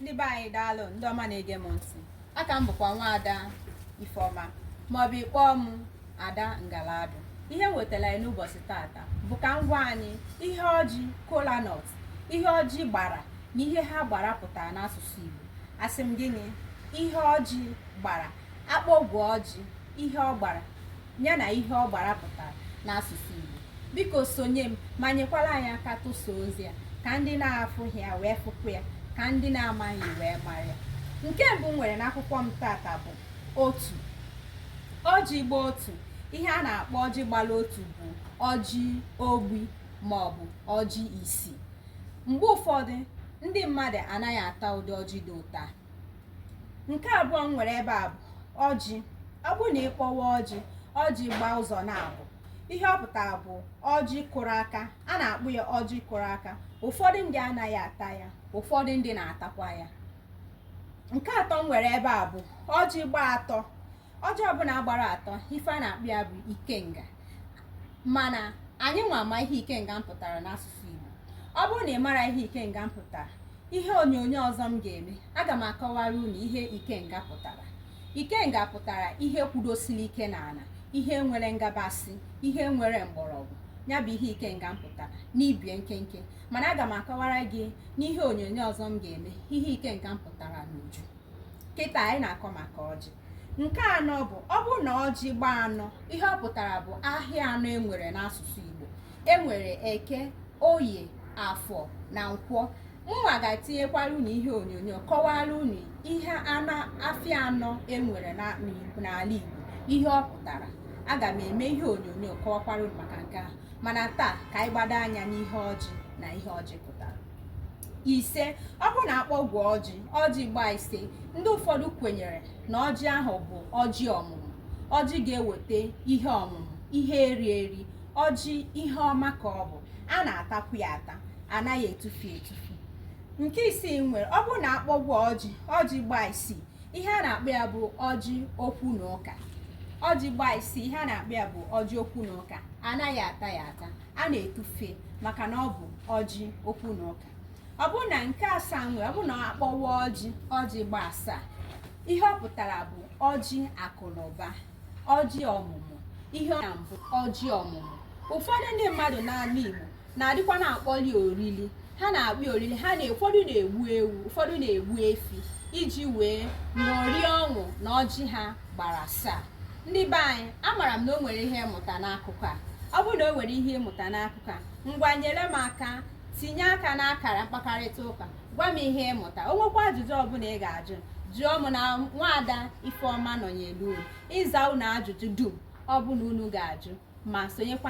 ndị be anyị daalụ ndị ọma na-ege m ntị aka m bụkwa nwaada ifeọma maọbụ ị kpọọ m ada ngaladụ ihe m wetara anyị n'ụbọchị tata bụ ka m gwa anyị ihe ọjị kola nut ihe ọjị gbara na ihe ha gbara pụtara n'asụsụ igbo asị m gịnị ihe ọjị gbara akpọgwụ ọjị ihe ọ gbara ya na ihe ọ gbara pụtara n'asụsụ Igbo biko sonye m ma nyekwara anyị aka tụsa ozi a ka ndị na-afụghị ya wee fụkwu ya ka ndị na-amaghị wee mara ya nke mbụ m nwere n'akwụkwọ m tata bụ otu ọjị gba otu ihe a na-akpọ ọjị gbara otu bụ ọjị ogbi ma ọ bụ ọjị isi mgbe ụfọdụ ndị mmadụ anaghị ata ụdị ọjị dị otu a nke abụọ m nwere ebe a bụ ọjị ọ bụrụ na ị kpọwa ọjị ọjị gbaa ụzọ naabọ ihe ọ pụtara bụ ọjị kụrụ aka a na-akpọ ya ọjị kụrụ aka ụfọdụ ndị anaghị ata ya ụfọdụ ndị na-atakwa ya nke atọ m nwere ebe a bụ ọjị gbaa atọ ọjị ọbụla gbara atọ ife a na-akpọ ya bụ ikenga mana anyị nwa ama ihe ikenga pụtara n'asụsụ Igbo ọ bụrụ na ị mara ihe ikenga pụtara ihe onyonyo ọzọ m ga-eme aga m akọwara unu ihe ikenga pụtara ikenga pụtara ihe kwudosiri ike n'ala ihe nwere ngabasị ihe nwere mgbọrọgwụ ya bụ ihe ikenga pụtara n'ibie nkenke mana aga m akọwara gị n'ihe onyonyo ọzọ m ga-eme ihe ikenga pụtara n'uju kịta anyị na-akọ maka ọjị nke anọ bụ ọ bụrụ na ọjị gbaa anọ ihe ọ pụtara bụ ahịa anọ enwere n'asụsụ Igbo enwere eke oye afọ na nkwọ mụwa ga-etinyekwara unu ihe onyonyo kọwara unu ihe afịa anọ enwere n'ala Igbo ihe ọ pụtara aga m eme ihe onyonyo kọwakwara unu maka nke ahụ mana taa ka anyị gbado anya n'ihe ọjị na ihe ọjị pụtara ise ọ bụrụ na akpọgwụ ọjị ọjị gbaa ise ndị ụfọdụ kwenyere na ọjị ahụ bụ ọjị ọmụmụ ọjị ga-eweta ihe ọmụmụ ihe eri eri ọjị ihe ọma ka ọ bụ a na-atakwu ya ata anaghị etufu etufu nke isii m nwere ọ bụrụ na akpọgwụ ọjị ọjị gbaa isii ihe a na-akpọ ya bụ ọjị okwu na ụka ọjị gbaa isii ihe a na-akpọ ya bụ ọjị okwu na ụka anaghị ata ya ata a na-etufe maka na ọ bụ ọjị okwu na ụka ọ bụrụ na nke asaa m nwere ọ bụrụ na akpọwa ọjị ọjị gba asaa ihe ọ pụtara bụ ọjị akụ na ụba ọjị ọmụmụ ihe ọ bụ ọjị ọmụmụ ụfọdụ ndị mmadụ n'ala Igbo na-adịkwa na-akpọli orili ha na-akpọ orili ha na ụfọdụ na-egbu ewu ụfọdụ na-egbu efi iji wee ṅụrie ọṅụ na ọjị ha gbara asaa ndị be anyị amara m na o nwere ihe ị mụta n'akụkọ a ọ bụrụ na o nwere ihe ị mụta n'akụkọ a ngwa nyere m aka tinye aka n'akara mkpakarịta ụka gwa m ihe ị mụta o nwekwa ajụjụ ọ bụla ị ga-ajụ jụọ m na nwaada ifeọma nọnyelu unu ịza unu ajụjụ dum ọ bụla unu ga-ajụ ma sonyekwa